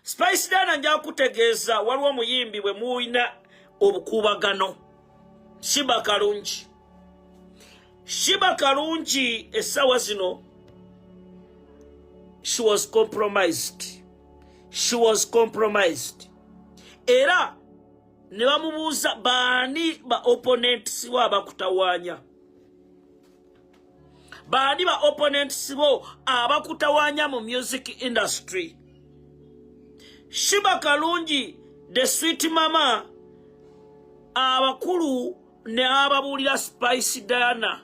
spice dana nja kutegeeza waliwo omuyimbi bwe mulina obukuubagano shiba kalungi shiba kalungi essaawa zino she was compromised she was compromised era ne bamubuuza baani ba opponents wa bakutawaanya baani ba opponents bo abakutawanya mu music industry shiba kalungi the sweet mama abakulu ne ababuulira spice diana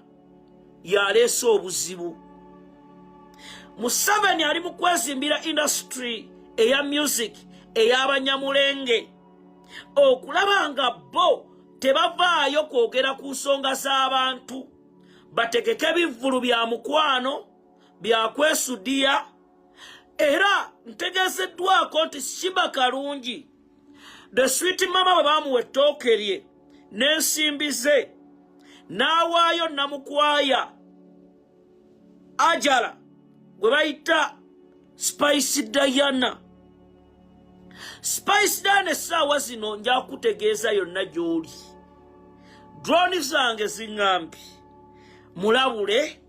yaleese obuzibu museveni ali mu kwezimbira industry eya music ey'abanyamulenge okulaba nga bo tebavaayo kwogera ku nsonga z'abantu bategeke ebivvulu bya mukwano bya kwesudiya era ntegeezeddwako nti shiba kalungi the swit mama bwe baamuwa ettooke lye n'ensimbi ze n'awaayo namukwaya ajala gwe bayita spice diana spice dan essaawa zino nja kutegeeza yonna gy'oli droni zange ziŋŋambi mulabule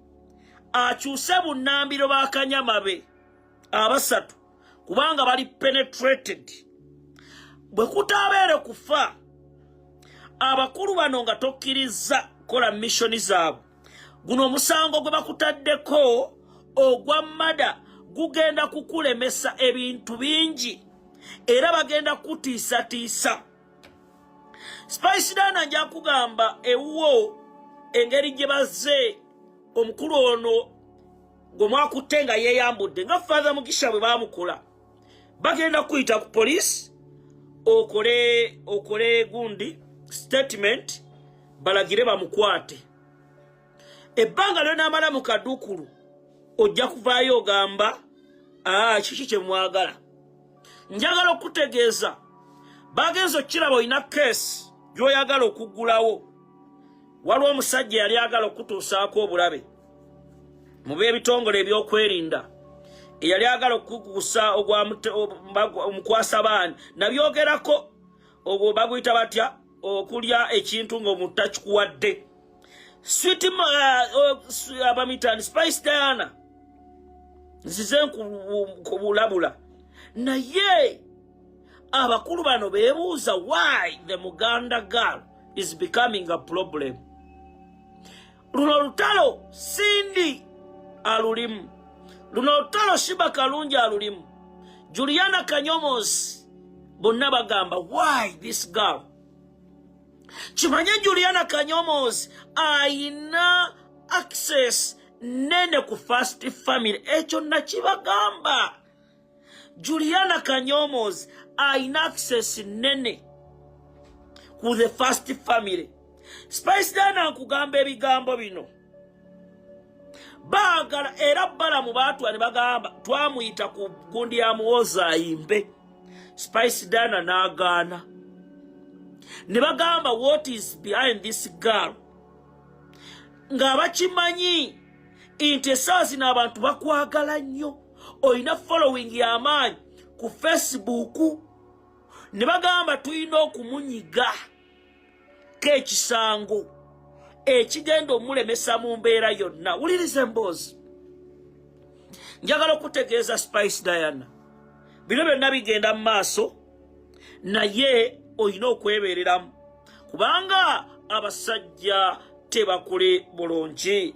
akyuse bunnambiro ba kanyama be abasatu kubanga bali penetrated bwe kutaabeere kufa abakulu bano nga tokkirizza kola missoni zaabwe guno omusango gwe bakutaddeko ogwa mada gugenda kukulemesa ebintu bingi era bagenda kukutiisatiisa spice dana nja kugamba ewuwo engeri gye bazze omukulu ono gwe mwakutte nga yeeyambudde nga fatha mugisha bwe baamukola bagenda kuyita ku police okole okole gundi statement balagire bamukwate ebbanga lyonamala mu kadukulu ojja kuvaayo ogamba ah, kiki kyemwagala njagala okutegeeza bagenza okukiraba olina keesi gyoyagala okuggulawo waliwo omusajja yali agala okutuusaako obulabe mu b'ebitongole ebyokwerinda eyali agala okukukusa omukwasa baani nabyogerako ogwo baguyita batya okulya ekintu ng'omuntu takikuwadde swit uh, uh, abamitani spice diana nzize nkubulabula naye abakulu bano bebuuza why the muganda girl is becoming a problem luno lutalo sindi alulimu luno lutalo shiba kalungi alulimu juliana kanyomozi bonna bagamba why this girl kimanye juliana kanyomozi ayina access nene ku fast family ekyo nakibagamba juliana kanyomos alina access nene ku the first family spice dana nkugamba ebigambo bino baagala era balamu baatwa ne bagamba twamuyita ku gundi ya muwozi ayimbe spice dana n'agaana ne bagamba what is behind this girl ng'abakimanyi nti essaawa zino abantu bakwagala nnyo olina following y'amaanyi ku facebook ne bagamba tulina okumunyiga k'ekisango ekigenda omulemesa mu mbeera yonna wuliriza emboozi njagala okutegeeza spice diana bino byonna bigenda mu maaso naye olina okwebeereramu kubanga abasajja tebakuli bulungi